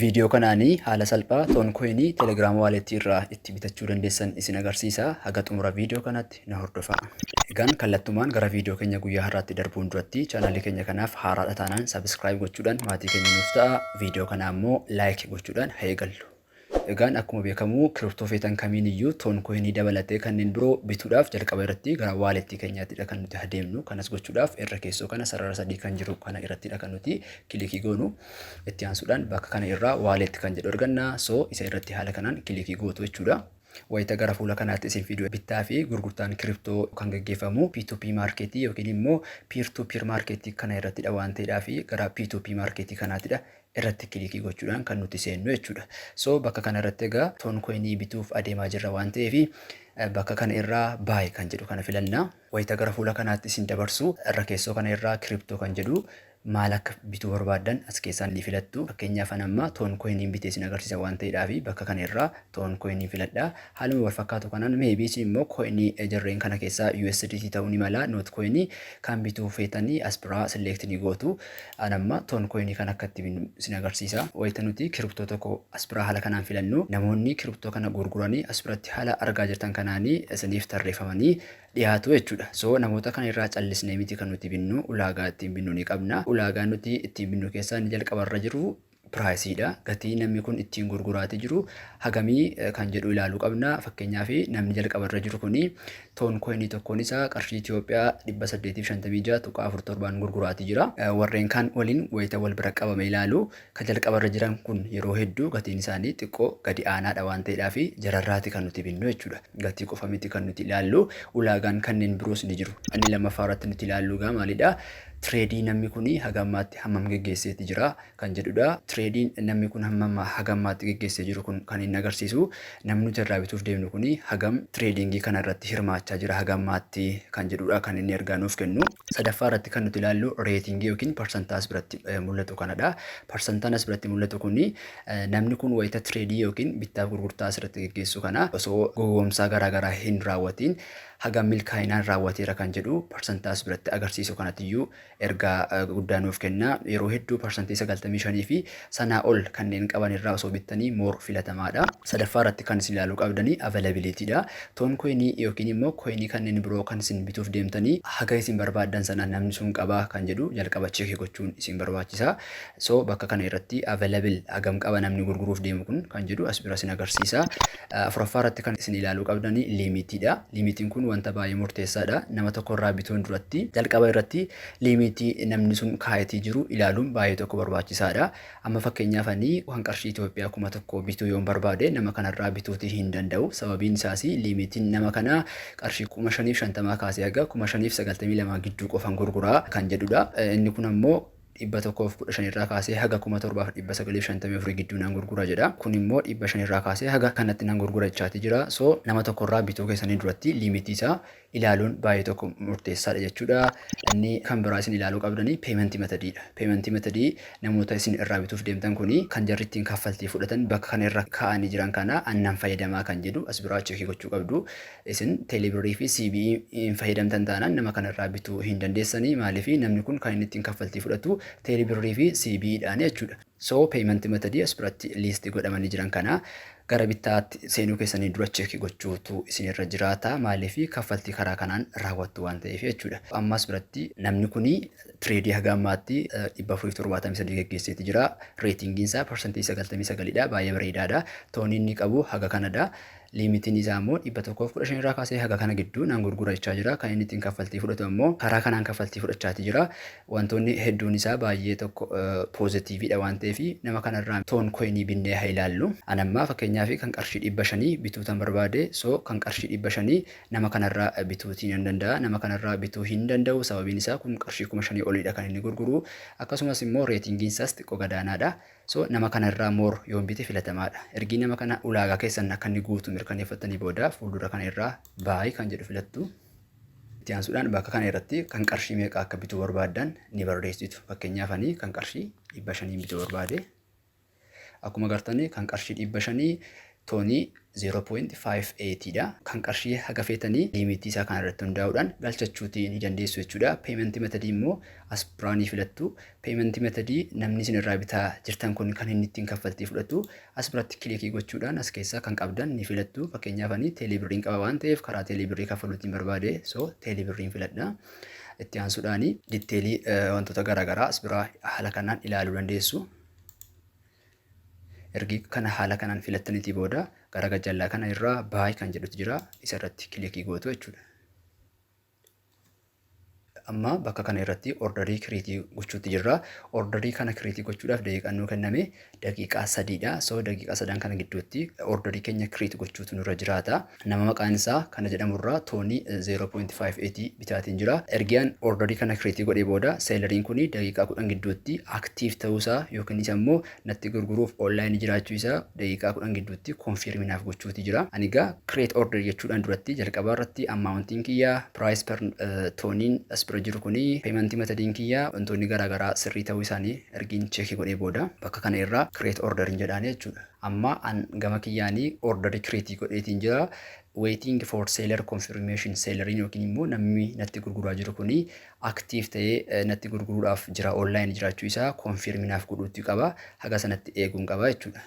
Viidiyoo kanaani haala salphaa Ton Coin Telegram Wallet irraa itti bitachuu dandeessan isin agarsiisa. Haga xumura viidiyoo kanaatti na hordofaa. Egaan kallattumaan gara viidiyoo keenya guyyaa har'aatti darbuun duratti chaanaalii keenya kanaaf haaraadha taanaan subscribe gochuudhaan maatii keenya nuuf ta'a. Viidiyoo kana ammoo like gochuudhaan haa eegallu. Egaan akkuma beekamu kiriptoo feetan kamiin iyyuu Ton Coin dabalatee kanneen biroo bituudhaaf jalqaba irratti gara wallet keenyaattidha kan nuti adeemnu. Kanas gochuudhaaf irra keessoo kana sarara sadii kan jiru kana irrattidha kan nuti kilikii goonu. Itti aansuudhaan bakka kana irraa wallet kan jedhu arganna. So isa irratti haala kanaan kilikii gootu jechuudha. Wayita gara fuula kanaatti isin fidu bittaa fi gurgurtaan kiriptoo kan gaggeeffamu P2P marketii yookiin immoo peer to peer marketii kana irrattidha waan ta'eedhaa fi gara P2P marketii kanaattidha irratti kilikii gochuudhaan kan nuti seennu jechuudha. So bakka kana irratti egaa toon koinii bituuf adeemaa jirra waan ta'eef bakka kana irraa baay kan jedhu kana filanna. Wayita gara fuula kanaatti isin dabarsu irra keessoo kana irraa crypto kan jedhu maal akka bituu barbaaddan as keessaa ni filattu. Fakkeenyaaf an amma ton coin bitee isin agarsiisa waan ta'eedhaaf bakka kana irraa ton coin filadha. Haaluma wal fakkaatu kanaan maybe isin immoo coin jarreen kana keessaa USDT ta'uu ni mala not coin kan bituu feetanii as biraa select ni gootu. An amma ton coin kan akka itti binnu isin agarsiisa. Wayita nuti crypto tokko as biraa haala kanaan filannu namoonni crypto kana gurguranii as biratti haala argaa jirtan kanaanii isiniif tarreeffamanii dhiyaatu jechuudha. So namoota kana irraa callisnee miti kan nuti binnu ulaagaa ittiin binnu ni qabna. Ulaagaa nuti ittiin binnu keessaa inni jalqaba irra jiru piraayisiidha. Gatii namni kun ittiin gurguraati jiru hagamii kan jedhu ilaaluu qabna. Fakkeenyaaf namni jalqaba irra jiru kun toon koinii tokkoon isaa qarshii Itoophiyaa 856.47n gurguraati jira. Warreen kaan waliin wayita wal bira qabame ilaalu Ka jalqaba irra jiran kun yeroo hedduu gatiin isaanii xiqqoo gadi aanaadha waan ta'eedhaafi jararraati kan nuti binnu jechuudha. Gatii qofa miti kan nuti ilaallu ulaagaan kanneen biroos ni jiru. Inni lammaffaa irratti nuti ilaallu egaa maalidha? Tireedii namni kun haga ammaatti hammam geggeesseeti jira? Kan jedhudha. Tireediin namni kun hammam haga ammaatti geggeessee jiru kun kan inni agarsiisu Namni nuti irraa bituuf deemnu kun hagam tireediingii kana irratti hirmaachaa jira haga ammaatti kan jedhudha kan inni ergaa nuuf kennu. Sadaffaa irratti kan nuti ilaallu reetingii yookiin parsantaa as biratti mul'atu kanadha. Parsantaan as biratti mul'atu kun namni kun wayita tireedii yookiin bittaaf gurgurtaa as irratti geggeessu kana osoo gowwoomsaa garaa garaa hin raawwatiin hagam milkaa'inaan raawwateera kan jedhu parsantaa as biratti agarsiisu kanatiyyuu ergaa guddaa nuuf kenna. Yeroo hedduu parsantii 95 fi sanaa ol kanneen qaban irraa osoo bittanii more filatamaa dha. Sadaffaa irratti kan isin ilaaluu qabdanii availability dha. Ton coin yookiin immoo coin kanneen biroo kan isin bituuf deemtanii haga isin barbaaddan sana namni sun qaba kan jedhu jalqaba check gochuun isin barbaachisa. So bakka kana irratti available hagam qaba namni gurguruuf deemu kun kan jedhu as bira isin agarsiisa. Afuraffaa irratti kan isin ilaaluu qabdani liimiitii dha. Liimiitiin kun wanta baay'ee murteessaa dha. Nama tokko irraa bituun duratti jalqaba irratti liimiitii namni sun kaa'etii jiru ilaaluun baay'ee tokko barbaachisaa dha. Amma fakkeenyaaf ani kan qarshii Itoophiyaa kuma tokko bituu yoon barbaade nama kana irraa bituutii hin danda'u. Sababiin isaas liimiitiin nama kanaa qarshii kuma shaniif shantamaa kaasee haga kuma shaniif sagaltamii lamaa gidduu qofan gurguraa kan jedhu dha. Inni kun ammoo 115 irraa kaasee haga 7954 gidduu nan gurgura jedha. Kun immoo 500 irraa kaasee haga kanatti nan gurgura jechaati jira. So nama tokko irraa bituu keessanii duratti liimitii isaa ilaaluun baay'ee tokko murteessaadha jechuudha. Inni kan biraa isin ilaaluu qabdanii peementii metadiidha. Peementii metadii namoota isin irraa bituuf deemtan kuni kan jarri ittiin kaffaltii fudhatan bakka kana irra kaa'anii jiran kana annan fayyadamaa kan jedhu as biraa cheekii gochuu qabdu. Isin Teeleebirrii fi CBE hin fayyadamtan taanaan nama kana irraa bituu hin dandeessanii maaliif namni kun kan inni ittiin kaffaltii fudhatu Teeleebirrii fi CBE dhaani jechuudha. So payment method as biratti list godhamanii jiran kana gara bittaatti seenuu keessanii dura check gochuutu isin irra jiraata maaliif kaffaltii karaa kanaan raawwattu waan ta'eef jechuudha. Amma as biratti namni kun tireedii haga ammaatti 473 geggeesseeti jira. Reetingiin isaa parsantii 99 dha baay'ee bareedaadha. Toonii inni qabu haga kanadha. Liimitiin isaa ammoo 115 irraa kaasee haga kana gidduu nan gurgura jechaa jira. Kan inni ittiin kaffaltii fudhatu ammoo karaa kanaan kaffaltii fudhachaatii jira. Wantoonni hedduun isaa baay'ee tokko poozitiiviidha waan ta'eef nama kanarraa toon koyinii binnee haa ilaallu. An ammaa fakkeenyaaf kan qarshii 500 bituutan barbaade. So kan qarshii 500 nama kanarraa bituutii nan danda'a. Nama kanarraa bituu hin danda'u sababiin isaa kun qarshii 5000 oliidha kan inni gurguru. Akkasumas immoo reetingiin isaas xiqqoo gadaanaadha. So nama kana irraa more yoon bite filatamaadha. Ergii nama kana ulaagaa keessan akka inni guutu mirkaneeffattanii booda fuuldura kana irraa buy kan jedhu filattu. Itti aansuudhaan bakka kana irratti kan qarshii meeqa akka bituu barbaaddan ni barreessitu. Fakkeenyaaf ani kan qarshii dhibba shaniin bituu barbaade. Akkuma gartanii kan qarshii dhibba shanii Tony 0.58 dha. Kan qarshii haga feetanii limitii isaa kana irratti hundaa'uudhaan galchachuutii ni dandeessu jechuudha. Payment method immoo as biraa ni filattu. Payment method namni isin irraa bitaa jirtan kun kan inni ittiin kaffaltii fudhatu as biratti kilikii gochuudhaan as keessaa kan qabdan ni filattu. Fakkeenyaaf ani teelii birriin qaba waan ta'eef karaa teelii birrii kaffaluutiin barbaade so teelii birriin filadha. Itti aansuudhaan ditteelii wantoota garaagaraa as biraa haala kanaan ilaaluu dandeessu. Ergi kana haala kanaan filattanitii booda gara gajjallaa kana irraa baay kan jedhutu jira isa irratti kilikii gootu jechuudha. Amma bakka kana irratti ordarii kiriitii gochuutti jirra. Ordarii kana kiriitii gochuudhaaf daqiiqaan nuu kenname daqiiqaa sadiidha. So daqiiqaa sadan kana gidduutti ordarii keenya kiriitii gochuutu nurra jiraata. Nama maqaan isaa kana jedhamu irraa toonii 0.58 bitaatiin jira. Ergi an orderii kana kireetii godhee booda seelariin kuni daqiiqaa 10 gidduutti aktiiv ta'uu isaa yookiinis ammoo natti gurguruuf online jiraachuu isaa daqiiqaa 10 gidduutti konfiirmi naaf gochuuti jira. Ani egaa kireet order jechuudhaan duratti jalqabaa irratti ammaawuntiin kiyya piraayis per tooniin as bira jiru kuni peemantii matadiin kiyya wantoonni garaa garaa sirrii ta'uu isaanii ergiin cheekii godhee booda bakka kana irraa kireet order hin jedhaani jechuudha. Amma an gama kiyyaani order create godheetiin jira. Waiting for seller confirmation selleriin yookiin immoo namni natti gurguraa jiru kuni active ta'ee natti gurguruudhaaf jira online jiraachuu isaa confirm naaf godhuutti qaba. Haga sanatti eeguun qaba jechuudha.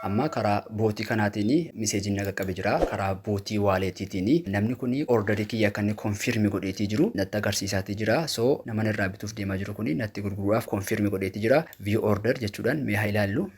Amma karaa bootii kanaatiin miseejiin na qaqqabe jira. Karaa bootii waaleetiitiin namni kun ordarii kiyya akka inni konfirmi godheetii jiru natti agarsiisaatii jira. So naman irraa bituuf deemaa jiru kun natti gurguruudhaaf konfirmi godheetii jira. View order jechuudhaan mee haa ilaallu.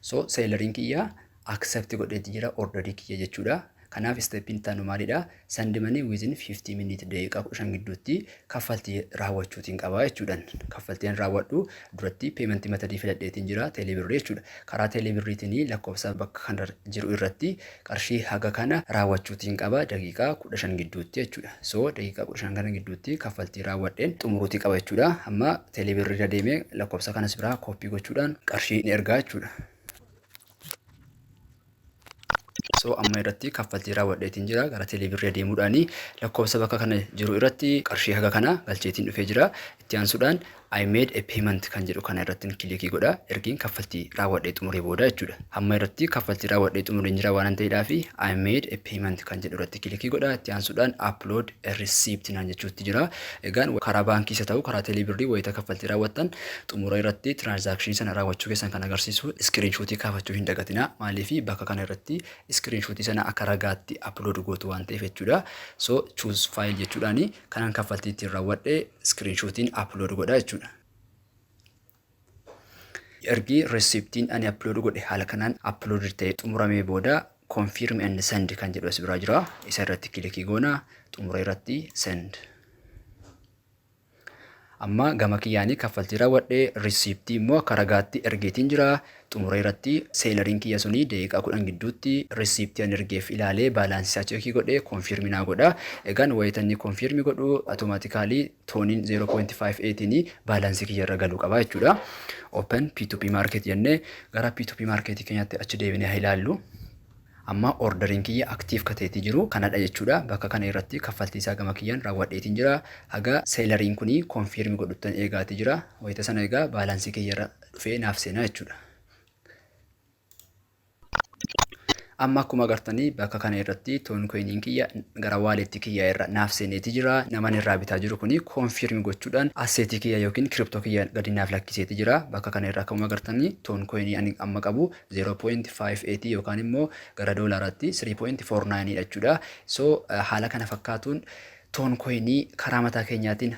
So seelariin kiyya accept godheetii jira ordarii kiyya jechuudha. Kanaaf steppiin itti aanu maalidha? Send money within 50 minutes daqiiqaa 15 gidduutti kaffaltii raawwachuutiin qaba jechuudhaan. Kaffaltiin raawwadhu duratti peementii matadii filadheetiin jira teelee birrii jechuudha. Karaa teelee birriitiin lakkoofsa bakka kana jiru irratti qarshii haga kana raawwachuutiin qaba daqiiqaa 15 gidduutti jechuudha. So daqiiqaa 15 kana gidduutti kaffaltii raawwadheen xumuruutii qaba jechuudha. Amma teelee birrii irra deemee lakkoofsa kanas biraa kooppii gochuudhaan qarshii ni ergaa jechuudha. So amma irratti kaffaltii raawwadheetiin jira gara teeleebirrii adeemuudhaan lakkoofsa bakka kana jiru irratti qarshii haga kana galcheetiin dhufee jira. Itti aansuudhaan I made a payment kan jedhu kana irratti kilikii godha. Ergiin kaffaltii raawwadhee xumuree booda jechuudha. Amma irratti kaffaltii raawwadhee xumureen jira waan ta'eedhaaf I made a payment kan jedhu irratti kilikii godha. Itti aansuudhaan upload Receipt naan jechuutti jira. Egaan karaa baankiis haa ta'u karaa teelee birrii wayita kaffaltii raawwattan xumura irratti tiraansaakshinii sana raawwachuu keessan kan agarsiisu iskiriinshuutii kaafachuu hin dagatinaa. Maaliif bakka kana irratti iskiriinshuutii sana akka ragaatti upload gootu waan ta'eef jechuudha. So choose file jechuudhaani kanan kaffaltii ittiin raawwadhe iskiriinshuutiin upload godha jechuudha. Ergi reciptiin ani upload godhe haala kanaan uploaded ta'ee xumuramee booda confirm and send kan jedhu as biraa jira. Isa irratti kilikii goona xumura irratti send. Amma gama kiyyaanii kaffaltii raawwadhe reciptii immoo akka ragaatti ergeetiin jira. Xumura irratti seelariin kiyya suni daqiiqaa kudhan gidduutti reciptii ani ergeef ilaalee baalaansii isaa cheekii godhee confirm naa godha. Egaan wayita inni confirm godhu automatically tooniin 0.58 baalaansii kiyya irra galuu qaba jechuudha. Open P2P market jennee gara P2P market keenyatti achi deebinee haa ilaallu. Amma orderiin kiyya aktiif kateetii jiru kanadha jechuudha. Bakka kana irratti kaffaltii isaa gama kiyyaan raawwadheetiin jira. Haga seelariin kun konfiirmi godhuttan eegaati jira. Wayita sana egaa baalaansii kiyya irra dhufee naaf seenaa jechuudha. Amma akkuma agartanii bakka kana irratti toon koiniin kiyya gara waaleetti kiyya irra naaf seeneeti jira. Naman irraa bitaa jiru kuni koonfiirmi gochuudhaan asseetii kiyya yookiin kiriptoo kiyya gadi naaf lakkiseeti jira. Bakka kana irra akkuma agartanii toon koinii ani amma qabu 0.58 yookaan immoo gara doolaaraatti 3.49 dha jechuudha. So haala kana fakkaatuun Toon koyinii karaa mataa keenyaatiin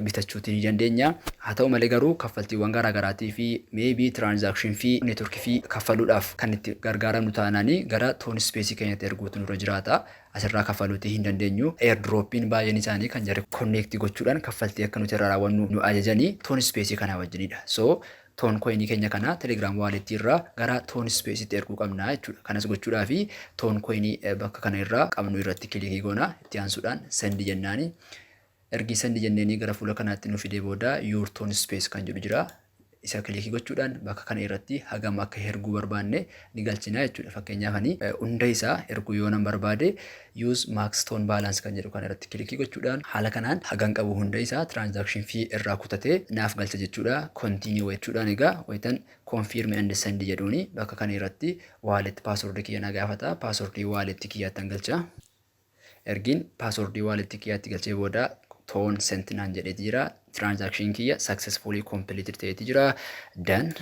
bitachuuti ni dandeenya. Haa ta'u malee garuu kaffaltiiwwan garaa garaatii fi maybe transaction fee, network fee kaffaluudhaaf kan itti gargaaramnu taanaan gara toon space keenyatti erguutu nurra jiraata. Asirraa kaffaluuti hin dandeenyu. Airdrop'n baay'een isaanii kan jarri connect gochuudhaan kaffaltii akka nuti irraa raawwannu nu ajajani toon space kanaa wajjinidha. So Ton coin keenya kana telegram wallet irraa gara ton space itti erguu qabna jechuudha. Kanas gochuudhaaf ton coin bakka kana irraa qabnu irratti kilikii goona. Itti aansuudhaan send jennaani. Ergii send jenneenii gara fuula kanaatti nu fidee booda your ton space kan jedhu jira. Isa kilikii gochuudhaan bakka kana irratti hagam akka erguu barbaanne ni galchina jechuudha. Fakkeenyaaf ani hunda isaa erguu yoonan barbaade Use Max Stone Balance kan jedhu kana irratti kilikii gochuudhaan haala kanaan hagan qabu hunda isaa transaction fee irraa kutatee naaf galcha jechuudha. Continue jechuudhaan egaa wayitan confirm and send jedhuuni bakka kana irratti wallet password kiyya na gaafata. Password wallet kiyyaattan galcha. Ergiin password wallet kiyyaatti galchee booda toon sent naan jedheeti jira. Transaction kiyya successfully completed ta'eeti jira. Done.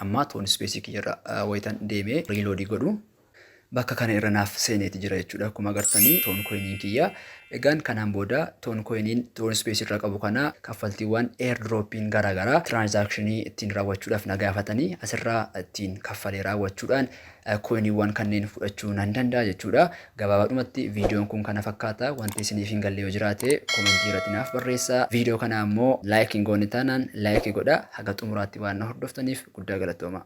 Amma toon space kiyya irra wayitan deemee reload godhu Bakka kana irra naaf seeneeti jira jechuudha akkuma agartanii toon coin kiyya egaan kanaan booda toon coin toon space irra qabu kana kaffaltiiwwan airdrop gara garaa transaction ittiin raawwachuudhaaf na gaafatanii asirraa ittiin kaffalee raawwachuudhaan coinwwan kanneen fudhachuu nan danda'a jechuudha gabaabaadhumatti viidiyoon kun kana fakkaata wanti isiniif hin galle yoo jiraate komentii irratti naaf barreessa viidiyoo kana ammoo like hin goone taanaan like godha haga xumuraatti waan na hordoftaniif guddaa galatoomaa.